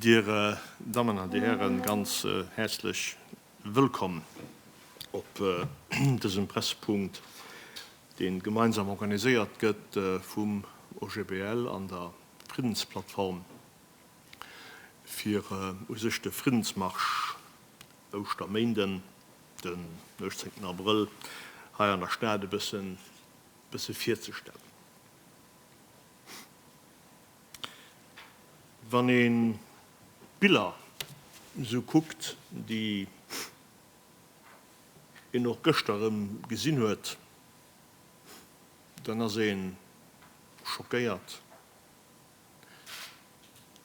Dir Dammen an Dir Hären, ganz häerzlech wëllkomm op dësem Pressepunkt, deen gemeinsam organiséiert gëtt vum OGBL an der Friddensplattform. fir u sech de Friddensmarsch Ouschterméinden, den 18 Abrëll, hei an der Stad e bësse virzestellen. Wann ee d'Biller esou kuckt, déi een och gëschter erëm gesinn huet, dann ass ee schockéiert.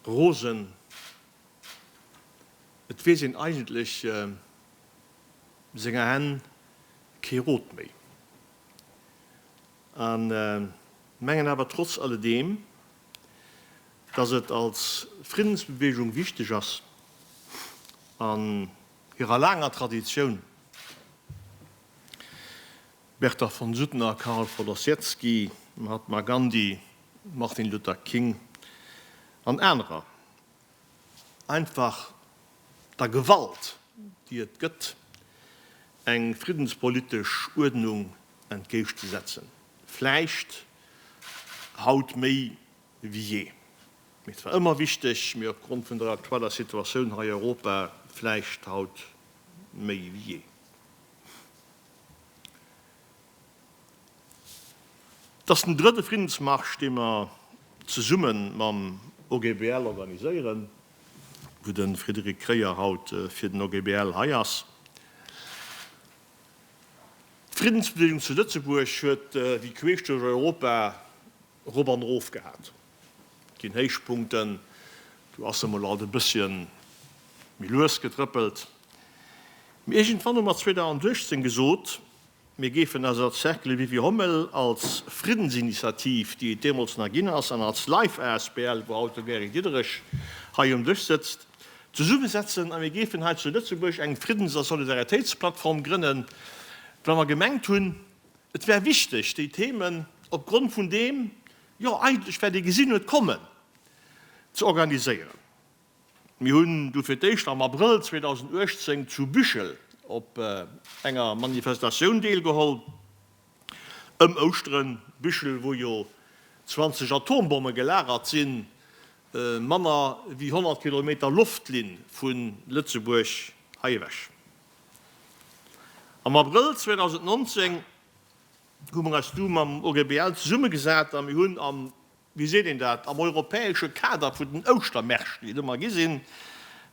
rosen. Et weess een eigentlech senger Hänn kee Rot méi a mengen awer trotz alledeem, datt et als Friddensbeweegung wichteg ass, an hirer laanger Traditioun, Bertha von Suttner, Karl von Ossietzky, Mahatma Gandhi, Martin Luther King an anerer, einfach der Gewalt, déi et gëtt, eng friddenspolitesch Uerdnung entgéischt ze setzen, vläicht haut méi wéi jee, mee et war ëmmer wichteg, mee op Grond vun der aktueller Situatioun hei Europa vläicht haut méi wéi jee. Et ass den drëtte Friddensmarsch, dee mer zesumme mam OGBL organiséieren, wou de Frédéric Kreyer haut fir den OGBL hei ass. D'Friddensbewegung zu Lëtzebuerg huet wéi queesch duerch Europa erop an erof gehat. Ginn Héichpunkten, do ass emol alt e bëssche méi lues gedrëppelt. Mee iergendwann hu mer 2016 gesot, mir géifen eis als Cercle Vivi Hommel, als Friddensinitiativ, déi et deemools nach ginn ass, an als Life asbl, wou haut de Gary Diederich hei um Dësch sëtzt, zesummesetzen a mir géifen hei zu Lëtzebuerg eng Friddens a Solidaritéitsplattform grënnen, well mer gemengt hunn, et wär wichteg, déi Themen, opgrond vun deem, jo eigentlech wat ee gesinn huet kommen, ze organiséieren. Mir hunn du fir d'éischt am Abrëll 2018 zu Büchel op enger Manifestatioun deelgeholl, ëm Ouschteren. Büchel, wou jo 20 Atombomme gelagert sinn, manner wéi 100 Kilometer Loftlinn vu Lëtzebuerg hei ewech. Am Abrëll 2019. hu mer eis du mam OGBL zesummegesat a mir hunn am, wéi seet een dat, am europäesche Kader vun den Ouschtermärschten, déi et ëmmer gi sinn,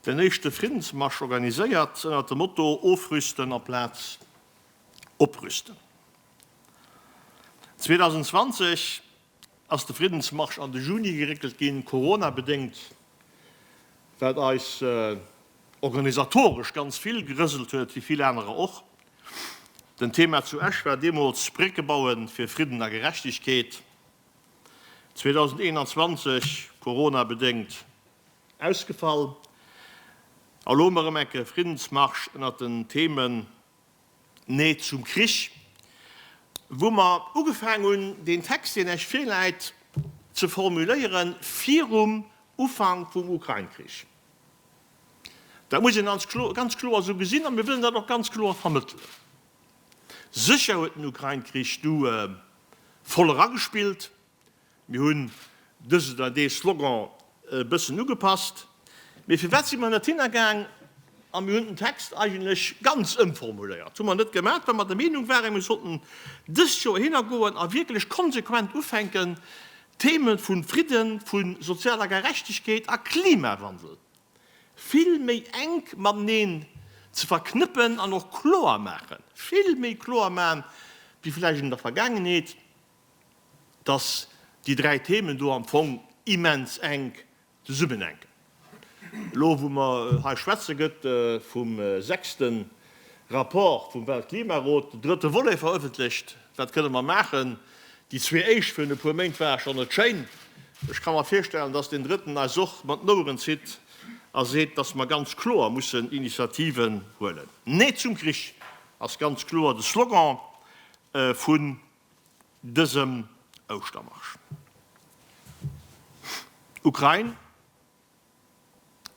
den éischte Friddensmarsch organiséiert, ënnert dem Motto Ofrüsten amplaz Oprüsten. 2020 ass de Friddensmarsch an de Juni geréckelt ginn, Corona-bedéngt, wat eis organisatoresch ganz vill gerëselt huet, wéi vill anerer och. Den Thema zu Esch war deemools Brécke baue fir Fridden a Gerechtegkeet. 2021, Corona-bedéngt ausgefall. Elo ëm erëm enke Friddensmarsch ënnert den Themen Nee zum Krich. Wou mer ugefaang hunn, deen Text, deen lech virläit, ze formuléieren, virum Ufank vum Ukrain-Krich. Dat muss een ganz kloer esou gesinn a mir wëllen dat och ganz kloer vermëttelen. Sécher huet den Ukrain-Krich du voll eragespillt. Mir hunn dësen oder dee Slogan e bëssen ugepasst, mee firwat si mer net hinnergaang a mir hunn den Text eigentlech ganz ëmformuléiert? Hu mer net gemaat, well mer der Meenung waren, mir sollten dëst Joer hinnergoen a wierklech konsequent ufänken, d'Theme vu Fridden, vu sozialer Gerechtegkeet a Klimawandel vill méi enk mateneen ze verknëppen an och kloer maachen, vill méi kloer maachen, wéi vläicht an der Vergaangenheet. dass déi dräi Themen do am Fong immens enk zesummenhänken. Elo wou mer hei schwätzen, gëtt vum sechste Rapport vum Weltklimarot den drëtte Volet verëffentlecht. Wat kënne mer maachen? Déi zwee éischt virun e puer Méint ware scho net schéin. Ech ka mer virstellen, dass deen drëtten eis och mat den Oueren zitt a seet, dass mer ganz kloer mussen Initiativen huelen. Nee zum Krich ass ganz kloer de Slogan vu dësem Ouschtermarsch. Ukrain,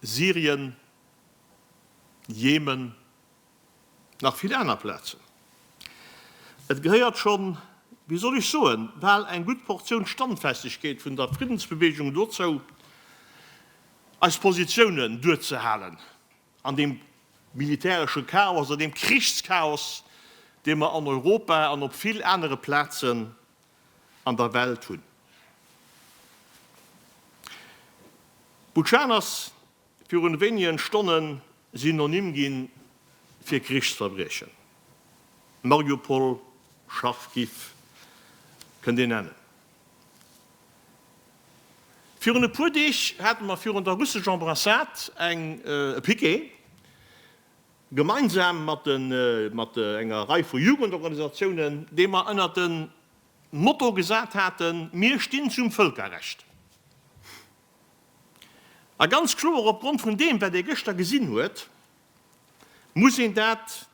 Syrien, Jemen, nach vill aner Plazen. Et gehéiert schonn, wéi soll ech soen, bal eng gutt Portioun Standfestegkeet vun der Friddensbeweegung dozou, eis Positiounen duerzehalen. An deem militäresche Chaos, an deem Krichschaos, dee mer an Europa an op vill anere Plazen an der Welt hunn. Butschanas virun wéinigen Stonnen Synonym ginn fir Krichsverbriechen. Mariupol, Charkiw, kënnt een nennen. Virun e puer Deeg hate mer virun der russesch Ambrassade eng e Piquet, gemeinsam mat de mat enger Rei vu Jugendorganisatiounen, dee mer ënnert de Motto gesat haten, Mir stinn zum Vëlkerrecht. A ganz kloer opgrond vun deem, wat ee gëschter gesinn huet, muss een dat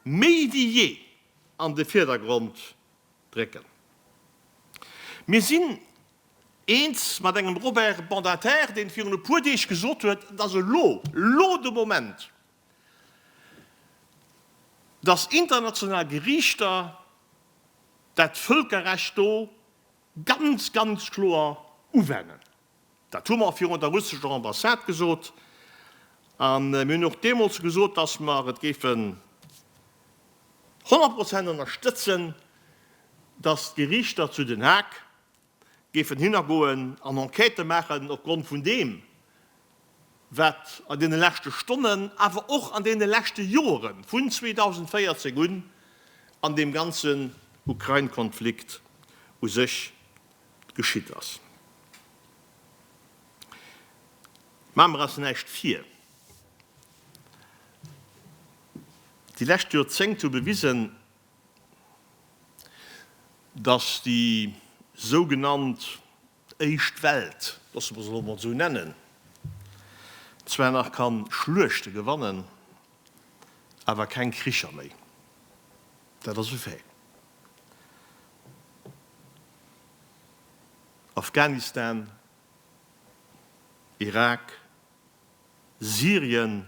méi wéi jee an de Virdergrond drécken. Mir sinn eens mat engem Robert Badinter, deen virun e puer Deeg gesot huet, et ass elo, elo de Moment, dass international Geriichter dat Völkerrecht do ganz, ganz kloer uwennen. Dat hu mer virun der russescher Ambassade gesot. A mir hunn och deemools gesot, dass mer et géifen honnert Prozent ënnerstëtzen, dass d'Gerichter zu Den Haag géifen hinnergoen an Enquêtë maachen opgrond vun deem, wat an deene leschte Stonnen, awer och an deene leschte Jore vun 2014 un an deem ganzen Ukrain-Konflikt u sech geschitt ass. Maache mer eis näischt vir, déi lescht Joerzéngt hu bewisen, datt déi sougenannt éischt Welt, loosse mer se elo emol esou nennen, zwar nach ka Schluechte gewannen, awer keng Kricher méi. Dat ass e Fait. Afghanistan, Irak, Syrien,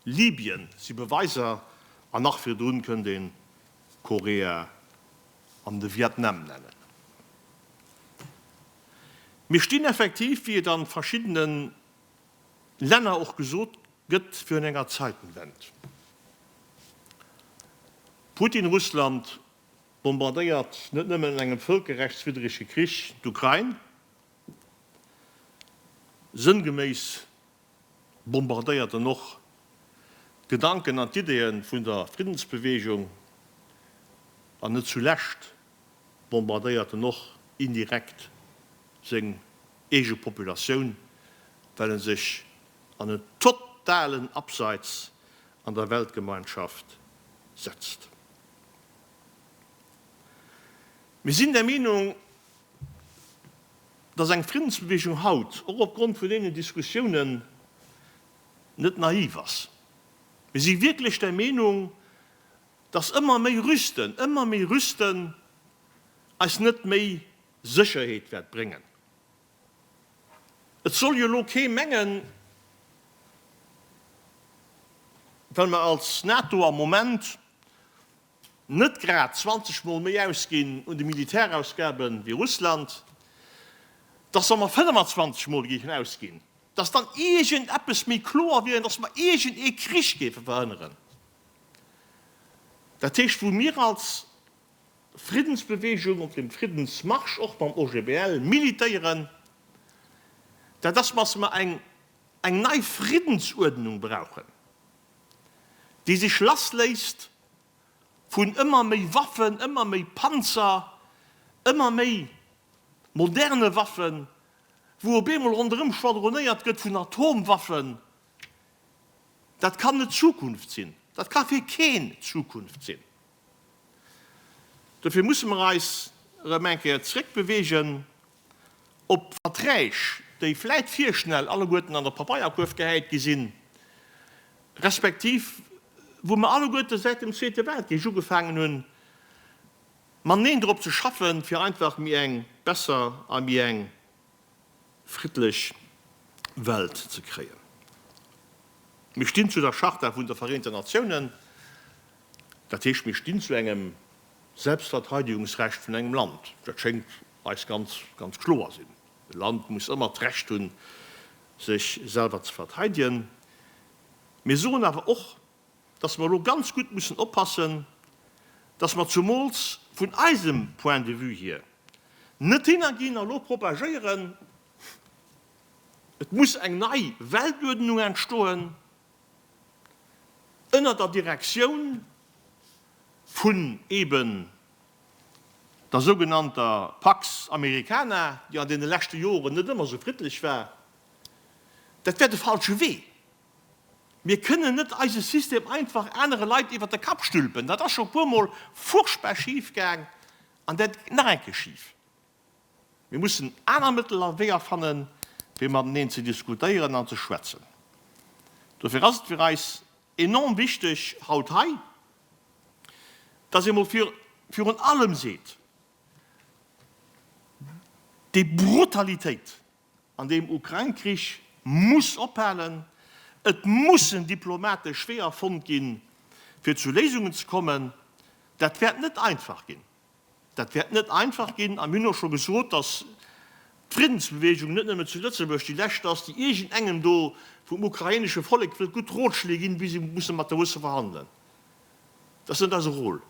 Libyen si Beweiser, an nach virdrun kënnt een Korea an de Vietnam nennen. Mir stinn effektiv, wéi et an verschiddenen Länner och gesot gëtt, fir un enger Zeitenwend. Putin, Russland bombardéiert net nëmmen an engem völkerrechtswiddrege Krich d'Ukrain, sënngeméiss bombardéiert en och d'Gedanken an d'Ideeë vun der Friddensbeweegung an net zulescht bombardéiert en och indirekt seng eege Populatioun, well e sech an en totalen Abseits an der Weltgemeinschaft setzt. Mir sinn der Meenung, dass eng Friddensbewegung haut, och opgrond vun deenen Diskussiounen, net naiv ass. Mir si wierklech der Meenung, dass ëmmer méi Rüsten, ëmmer méi Rüsten eis net méi Sécherheet wäert bréngen. Et soll jo elo kee mengen, well mer als NATO am Moment net grad 20 mol méi ausginn un de Militärausgaben wéi Russland, dass wa mer 25 mol géifen ausginn, dass dann iergend eppes méi kloer wier an dass mer iergend ee Krich géife verhënneren. Dat heescht, wou mir als Friddensbewegung, op dem Friddensmarsch, och mam OGBL, militéieren, dat ass, dass mer eng eng nei Friddensuerdnung brauchen, déi sech lassléisst vun ëmmer méi Waffen, ëmmer méi Panzer, ëmmer méi moderne Waffen, wou op eemol ronderëm schwadronéiert gëtt vun Atomwaffen. Dat kann net d'Zukunft sinn, dat ka fir keen d'Zukunft sinn. Dofir musse mer eis erëm eng Kéier zréckbeweegen op d'Verträg, déi vläit virschnell alleguerten an der Papeierkuerf gehäit gi sinn, respektiv wou mer alleguerte säit dem Zweete Weltkrich ugefaangen hunn, mateneen drop ze schaffen, fir einfach méi eng besser a méi eng friddlech Welt ze kréien. Mir stinn zu der Charta vun de Vereenten Natiounen, dat heescht, mir stinn zu engem Selbstverteidigungsrecht vun engem Land. Dat schéngt eis ganz, ganz kloer sinn. E Land muss ëmmer d'Recht hunn, sech selwer ze verteidegen. Mir soen awer och, dass mer elo ganz gutt mussen oppassen, dass mer zumools vun eisem Point de vue hier net hinnerginn a elo propagéieren, et muss eng nei Weltuerdnung entstoen ënner der Direktioun vun eben der sougenannter Pax Americana, déi an deene leschte Joren net ëmmer esou friddlech war. Dat wär de falsche Wee. Mir kënnen net eise System einfach anere Leit iwwert de Kapp stülpen. Dat ass scho puer mol furchtbar schif gaang an dat geet nach eng Kéier schif. Mir mussen aner Mëttel a Weeër fannen, fir mateneen ze diskutéieren an ze schwätzen. Dofir ass et fir eis enorm wichteg haut hei, dass ee mol virun allem seet, Déi Brutalitéit, An deem Ukrain-Krich muss ophalen. Et mussen diplomatesch Weeër fonnt ginn, fir zu Léisungen ze kommen. Dat wäert net einfach ginn. Dat wäert net einfach ginn. A mir hunn och scho gesot, dass d'Friddensbeweegung net nëmme zu Lëtzebuerg déi lescht ass, déi iergendengem do vum ukrainesche Vollek wëllt gutt Rotschléi ginn, wéi se musse mat der Russe verhandelen. Dat ass net eise Rôle.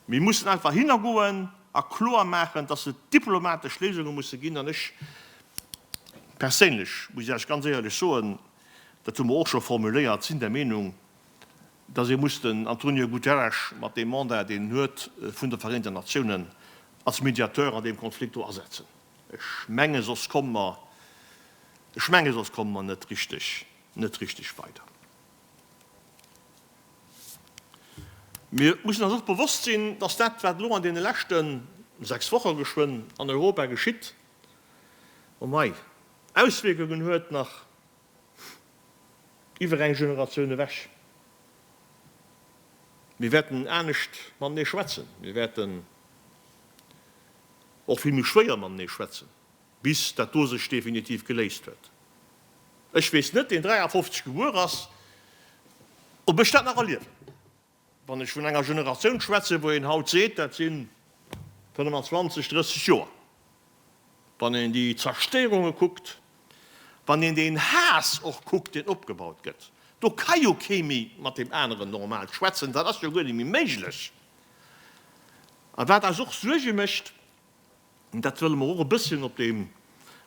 Mir mussen einfach hinnergoen a kloer maachen, dass et diplomatesch Léisunge musse ginn. An ech perséinlech, muss ech Iech ganz éierlech soen, dat hu mer och scho formuléiert, sinn der Meenung, dass ee muss den Antonio Guterres mat deem Mandat, deen en huet vun de Vereenten Natiounen, als Mediateur an deem Konflikt do asetzen. Ech menge soss komme mer, ech menge soss komme mer net richtig, net richtig weider. Mir mussen eis och bewosst sinn, dass dat, wat elo an deene leschte sechs Woche geschwënn an Europa geschitt, oh mei, Auswierkungen huet nach iwwer eng Generatioun ewech. Mir wäerten anescht matenee schwätzen, mir wäerten och vill méi schwéier matenee schwätzen. bis dat do sech definitiv geléist huet. Ech weess net, deen 53 gebuer ass, ob ech dat nach erliewen, wann ech vun enger Generatioun schwätzen, wou een haut seet, dat si 25, 30 Joer, wann een déi Zerstéierunge kuckt, wann een deen Haass och kuckt, deen opgebaut gëtt, do ka jo kee méi mat deem aneren normal schwätzen, dat ass jo guer net méi méiglech. A wat eis och Suerge mécht, Dat wëlle mer och e bësschen op deem,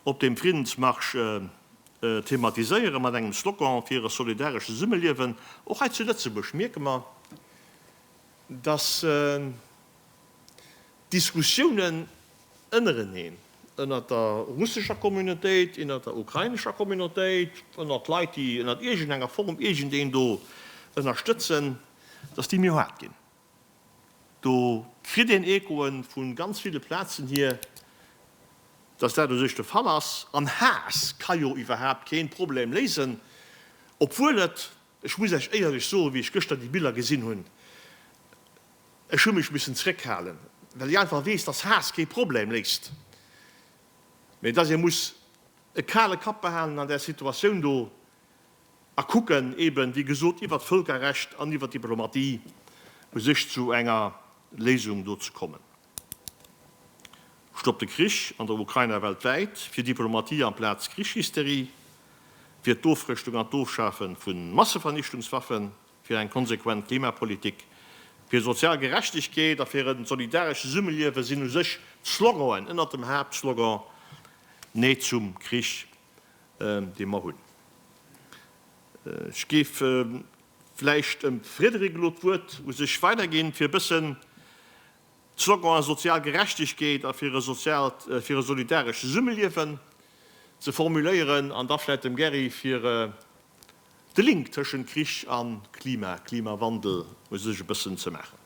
op deem Friddensmarsch thematiséieren, mat engem Slogan fir e solidarescht Zesummeliewen. Och hei zu Lëtzebuerg mierke mer, dass d'Diskussiounen ënnereneen, ënnert der russescher Communautéit, innert der ukrainescher Communautéit, ënnert Leit, déi ënnert iergendenger Form iergendeen do ënnerstëtzen, dass déi méi haart ginn. Do kritt een Echoen vu ganz ville Plazen hier, dass dat u sech de Fall ass. An Haass ka jo iwwerhaapt keen Problem léisen, obwuel et, ech muss Iech éierlech soen, wéi ech gëschter déi Biller gesinn hunn, ech hu mech missen zréckhalen, well ech einfach weess, dass Haass kee Problem léist, mä dass ee muss e kale Kapp behalen an där Situatioun do. a kucken eben, wéi gesot, iwwert d'Völkerrecht an iwwert d'Diplomatie u sech zu enger Léisung do ze kommen. Stoppt de Krich an der Ukraina weltwäit fir Diplomatie amplaz Krichshysterie, wier d'Ofrëschtung an d'Ofschafe vu Massevernichtungswaffen fir eng konsequent Klimapolitik, fir sozial Gerechtegkeet a fir e solidarescht Zesummeliewe sinn u sech d'Sloganen ënnert dem Haaptslogan Nee zum Krich. dee mer hunn. Ech géif vläicht dem Frédéric elo d'Wuert u sech weiderginn, fir e bëssen d'Slogane sozial Gerechtegkeet a fir e soziaalt, fir e solidarescht Zesummeliewen ze formuléieren an da vläicht dem Gary fir de Link tëschent Krich a Klima, Klimawandel u sech e bëssen ze maachen.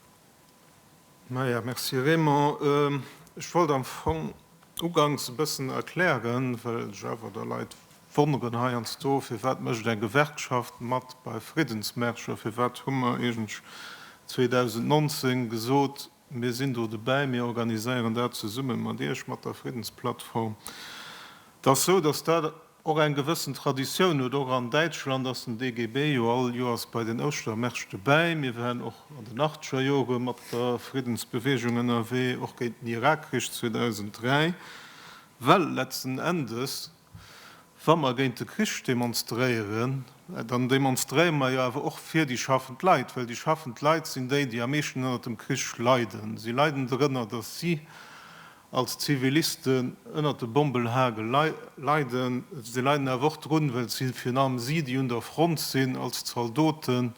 Maja, Merci Raymond. Ech wollt am Fong uganks e bëssen erklären, well sech awer da Leit wonneren heiansdo, firwat mécht eng Gewerkschaft mat bei Friddensmärscher, firwat hu mer eigentlech 2019 gesot, mir sinn do dobäi, mir organiséieren dat zesumme mat Iech, mat der Friddensplattform. Et ass esou, datt dat Och eng gewëssen Traditioun huet, och an Däitschland ass den DGB jo all Joers bei den Ouschtermärscht dobäi. Mir waren och an den achtzeger Jore mat der Friddensbewegung ënnerwee, och géint den Irakkrich 2003. Well letzten Endes, wa mer géint de Krich demonstréieren, dann demonstréiere mer jo awer och fir déi schaffend Leit, well déi schaffend Leit sinn déi, déi am meeschten ënnert dem Krich leiden. Si leiden dorënner, datt si als Zivilisten ënnert de Bombelhagel leiden. Si leiden awer och drun, well si, virun allem si, déi un der Front sinn als Zaldoten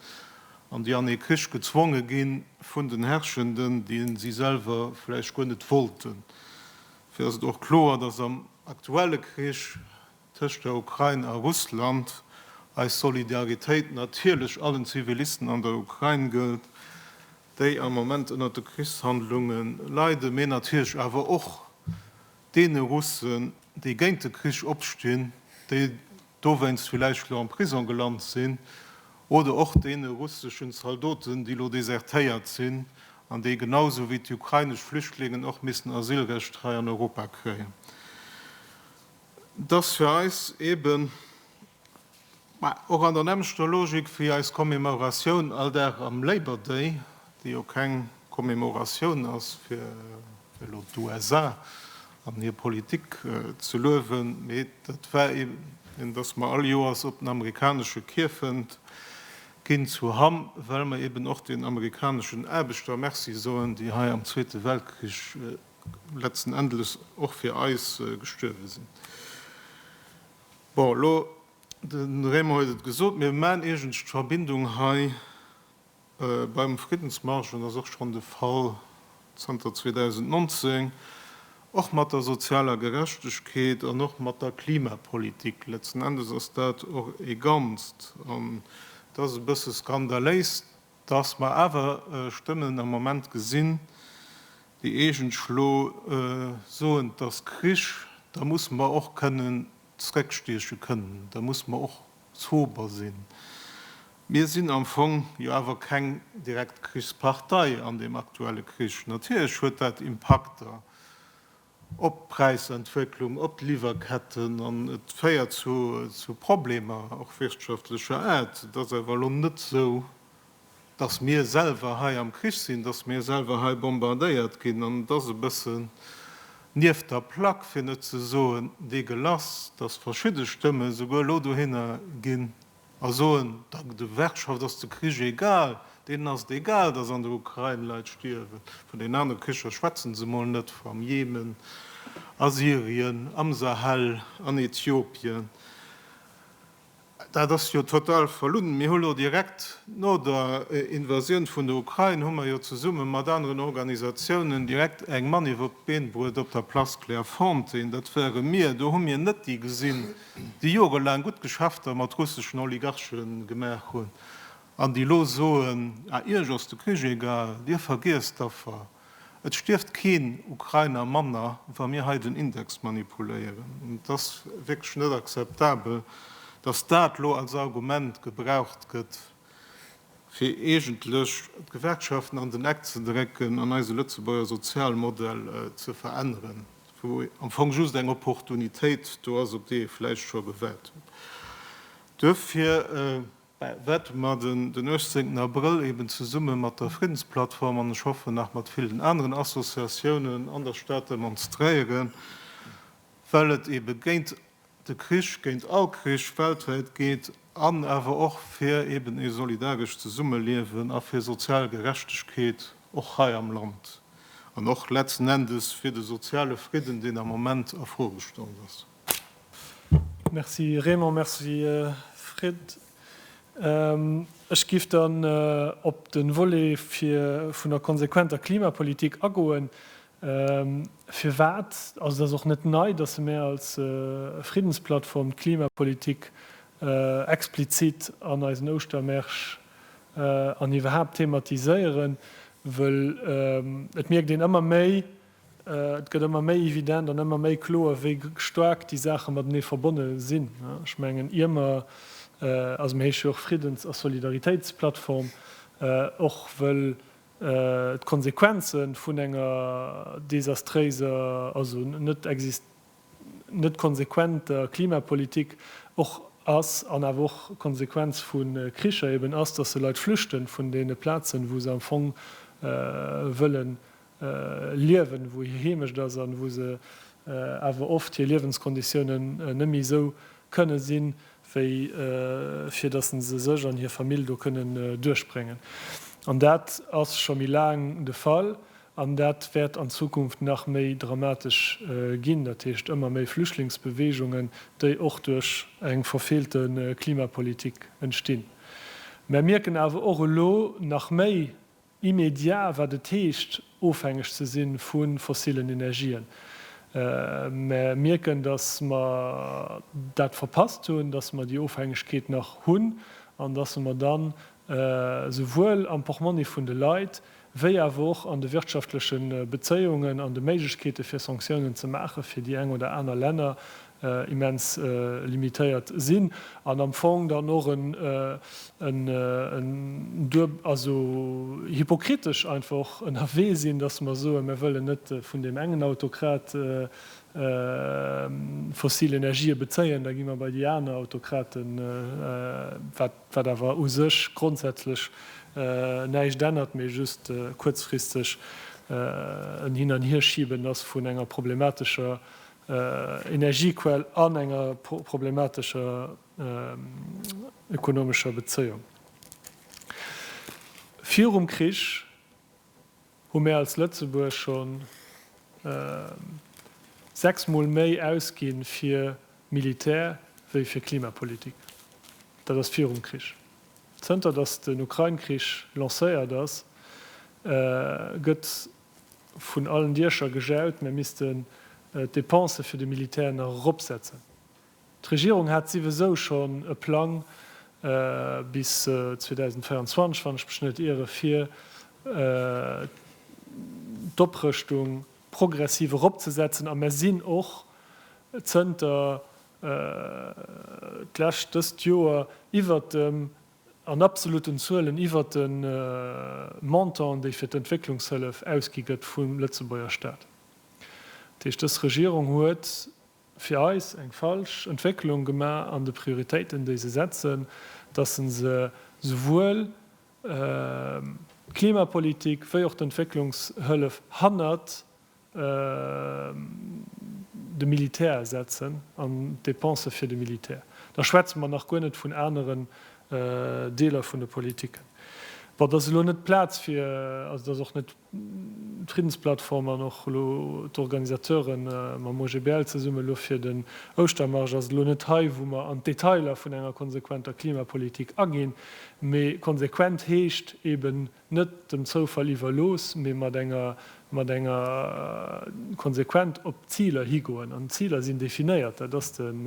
an déi an ee Krich gezwonge gi vun den Herrschenden, déi si selwer vläicht guer net wollten. Dofir ass et och kloer, dass am aktuelle Krich tëscht der Ukrain a Russland eis Solidaritéit natierlech allen Zivilisten an der Ukrain gëllt. déi am Moment ënnert de Krichshandlunge leiden, mee natierlech awer och deene Russen, déi géint de Krich opstinn, déi dowéinst villäicht elo am Prisong gelant sinn, oder och deene russeschen Zaldoten, déi elo desertéiert sinn an déi genau esou wéi d'ukrainesch Flüchtlingen och missten Asylrecht hei an Europa kréien. Et ass fir eis eeben Mä och an der nämmlechter Logik wéi eis Commemoratioun all Dag am Labour Day, dee jo keng Commemoratioun ass, fir elo d'USA an hir Politik ze luewen, mee dat war eeben, datt mer all Joers op den amerikanesche Kierfent ginn zu Hamm, well mer eeben och den amerikaneschen Aarbechter Merci soen, déi hei am Zweete Weltkrich letzten Endes och fir eis gestuerwe sinn. Bon, elo, de Raymond huet et gesot, mir maachen iergendst d'Verbindung hei beim Friddensmarsch, an dat ass och schonn de Fall zanter 2019, och mat der sozialer Gerechtegkeet an och mat der Klimapolitik. Letzten Endes ass dat och ee Ganzt. An et ass e bësse skandaléis, Dass mer awer Stëmmen am Moment gesinn, déi eegentlso soen, et ass Krich, da musse mer och kënnen zréckstieche kënnen, da musse mer och sober sinn. Mir sinn am Fong jo awer keng direkt Krichspartei an deem aktuelle Krich. Natierlech huet dat Impakter. op d'Präisentwécklung, op d'Liwwerketten an et féiert zu Problemer, och wirtschaftlecher Aart. Et ass awer elo net esou, dass mir selwer hei am Krich sinn, dass mir selwer hei bombardéiert ginn. An et ass e bëssen nieft der Plack, fir net ze soen dégueulasse, dass verschidde Stëmme souguer elo dohinner gi A soen, der Gewerkschaft ass de Krich egal. Deenen ass et egal, datt an der Ukrain Leit stierwen. Vun den anere Kricher schwätzen se emol net, am Jemen, a Syrien, am Sahel, an Ethiopien. Dat ass jo total verlunn. Mir hu lo direkt no der Invasioun vun der Ukrain, hu mer jo zesumme mat aneren Organisatiounen direkt eng Maniff op d'Been bruet op der Place Clairefontaine. Dat ware mir. Do hu mir net déi gesinn, déi jorelaang gutt Geschäfter mat russeschen Oligarche gemaach hunn an déi elo soen, Ah, Iech ass de Krich egal, Dir vergiesst d'Affer. Et stierft keen Ukrainer manner, wa mir hei den Index manipuléieren. An et ass wierklech net akzeptabel, datt dat elo als Argument gebraucht gëtt, fir eegentlech d'Gewerkschaften an den Eck ze drécken an eise Lëtzebuerger Sozialmodell ze veränneren. wou am Fong just eng Opportunitéit do ass, op déi ee vläicht scho gewaart huet. Duerfir wäerte mer den 18 Abrëll eben zesumme mat der Friddensplattform, an ech hoffen nach mat villen aneren Associatiounen an der Stad demonstréieren, well et ebe géint de Krich géint all Krich weltwäit geet an awer och fir eben ee solidarescht Zesummeliewen a fir sozial Gerechtegkeet och hei am Land an och letzten Endes fir de soziale Fridden, deen am Moment a Fro gestallt ass. Merci Raymond. Merci Fred. Ech géif dann op de Volet vun der konsequenter Klimapolitik agoen. Firwat, also et ass och net nei, datt se mär als Friddensplattform d'Klimapolitik explizit an eisen Ouschtermärsch an iwwerhaapt thematiséieren, wëll et mierkt een ëmmer méi, et gëtt ëmmer méi evident an ëmmer méi kloer, wéi staark déi Saache matenee verbonne sinn. Ech mengen, ier mer, also mir heesche jo och Friddens a Solidaritéitsplattform, och wëll D'Konsequenze vun enger desastréiser, also net konsequenter Klimapolitik och ass, an awer och d'Konsequenz vu Kricher eben ass, datt se Leit flüchten vun deene Plazen, wou se am Fong wëlle liewen, wou hir Heemecht ass an wou se awer oft hir Liewenskonditiounen net méi esou kënne sinn, wéi fir datt se sech an hir Famill do kënnen duerchbréngen. An dat ass scho méi laang de Fall an dat wäert an Zukunft nach méi dramatesch ginn, dat heescht ëmmer méi Flüchtlingsbeweegungen, déi och duerch eng verfeelte Klimapolitik entstinn. Mär mierken awer och elo nach méi, Immédiat, wat et heescht, ofhängeg ze si vu fossillen Energien. Mä mierken, datt mer dat verpasst hunn, datt mer déi Ofhängegkeet nach hunn an datt mer dann esouwuel am Portmonni vun de Leit wéi awer och an de wirtschaftleche Bezéiungen an de Méiglechkeete fir Sanktiounen ze maachen, fir déi eng oder aner Länner immens limitéiert sinn an am Fong dann och en dueb-, also hypokritesch einfach ënnerwee sinn, dass mer soen, Mir wëllen net vun deem engen Autokrat fossil Energië bezéien, da gi mer bei déi aner Autokraten, wat awer u sech grondsätzlech näischt ännert, mee just kuerzfristeg en Hin-an-Hierschiben ass vun enger problematescher Energiequell an enger problematescher ökonomescher Bezéiung. Virum Krich hu mär als Lëtzebuerg schonn sechs Mol méi ausginn fir Militär wéi fir Klimapolitik. Dat ass virum Krich. Zënter datt den Ukrain-Krich lancéiert ass, gëtt Vun allen Diecher gejaut, mir missten d'Depensë fir de Militär nach eropsetzen. D'Regierung hat siwesou schonn e Plang bis 2024, wann ech mech net iere, fir d'Oprëschtung progressiv eropzesetzen a mir sinn och zënter d'lescht dëst Joer iwwert dem An absoluten Zuelen iwwert de Montant, dee fir d'Entwécklungshëllef ausgi gëtt vum Lëtzebuerger Staat. Dat heescht, dës Regierung huet fir eis eng falsch Entwécklung gemaach an de Prioritéiten, déi se setzen, datt se se souwuel d'Klimapolitik wéi och d'Entwécklungshëllef hannert de Militär setzen an d'Depensë fir de Militär, da schwätze mer nach guer net vun aneren Deeler vun de Politiken. Bon, dat ass elo net d'Plaz fir, also dat ass och net d'Friddensplattform an och elo d'Organisateure mam OGBL zesummen elo fir den Ouschtermarsch ass elo net hei, wou mer an d'Detailer vun enger konsequenter Klimapolitik aginn, mee konsequent heescht eeben, net dem Zoufall iwwerlooss, mee mat enger mat enger konsequent op d'Ziler higoen. An d'Ziler sinn definéiert, dat ass den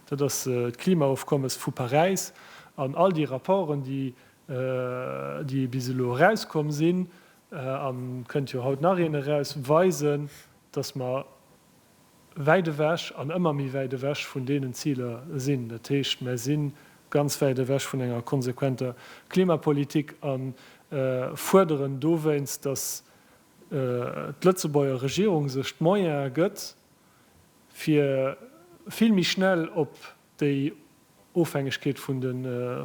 dat ass d'Klimaofkommes vu Paräis an all déi Rapporten, déi déi bis elo erauskomm sinn, an et kënnt jo haut nach een eraus, weisen, datt mer, wäit ewech an ëmmer méi wäit ewech vun deenen Ziler sinn. Dat heescht, mär si ganz wäit ewech vun enger konsequenter Klimapolitik a fuerderen dowéinst, datt d'Lëtzebuerger Regierung sech d'Moyene gëtt, fir vill méi schnell op déi Ofhängegkeet vun de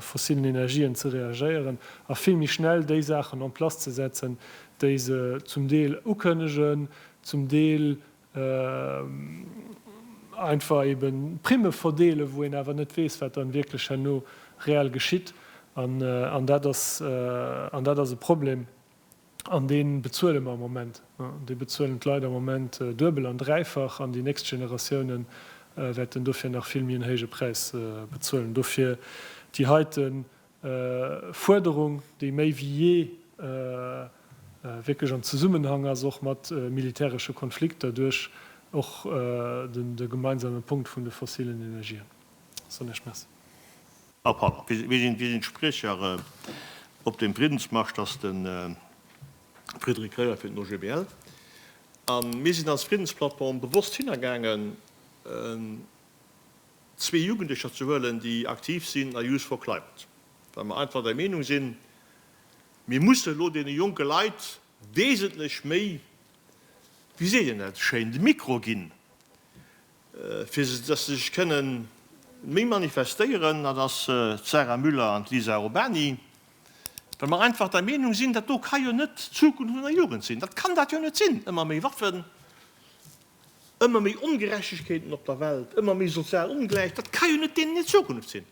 fossillen Energien ze reagéieren a vill méi schnell déi Saachen en place ze setzen, déi se zum Deel ukënnegen, zum Deel einfach eebe Primme verdeelen, wou een awer net weess, wat dann wierklech herno reell geschitt. An dat ass e Problem. An dee bezuele mer am Moment. Dee bezuelen d'Leit am Moment duebel an dräifach an déi nächst Generatioune wäerten dofir nach vill méi en héije Präis bezuelen. Dofir déi heite Fuerderung, déi méi wéi jee wierklech am Zesummenhang ass och mat militäresche Konflikter duerch och de gemeinsame Punkt vun de fossilen Energien. Soen ech Merci. Här Papp, wie sinn d'Spriecher op deem Friddensmarsch? Dat ass de Frédéric Reyert fir den OGBL. A mir sinn als Friddensplattform bewosst hinnergaangen, zwee Jugendlecher ze huelen, déi aktiv sinn a Youth for Climate, well mer einfach der Meenung sinn, mir mussen elo deene jonke Leit wesentlech méi, wéi seet een dat schéin, de Mikro ginn. Fir dass se sech kënne méi manifestéieren, dat ass d'Sarah Müller an d'Lisa Urbany, well mer einfach der Meenung sinn, dat do ka jo net d'Zukunft vun der Jugend sinn. Dat kann dat jo net sinn. Ëmmer méi Waffen, ëmmer méi Ongerechtegkeeten op der Welt, ëmmer méi sozial Ongläichheet, dat ka jo net deenen hir Zukunft sinn.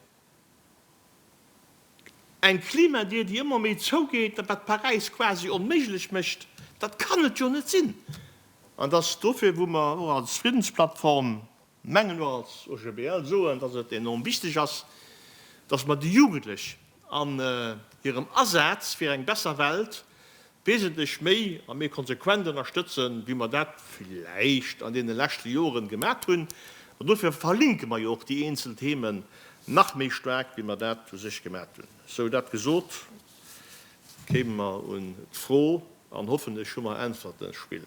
Eng Klimadier, déi ëmmer méi zougeet, wat Paräis quasi onméiglech mécht, dat kann et jo net sinn! An et ass dofir, wou mer och als Friddensplattform mengen, och als OGBL soen, dass et enorm wichteg ass, dass mer déi Jugendlech an hirem Asaz fir eng besser Welt, wesentlech méi a méi konsequent ënnerstëtzen, wéi mer dat vläicht an deene leschte Joren gemat hunn. An dofir verlinke mer jo och déi eenzel Themen nach méi staark, wéi mer dat u sech gemat hunn. Sou dat gesot, kéime mer un d'Fro an hoffentlech hu mer Äntwerten, Spill.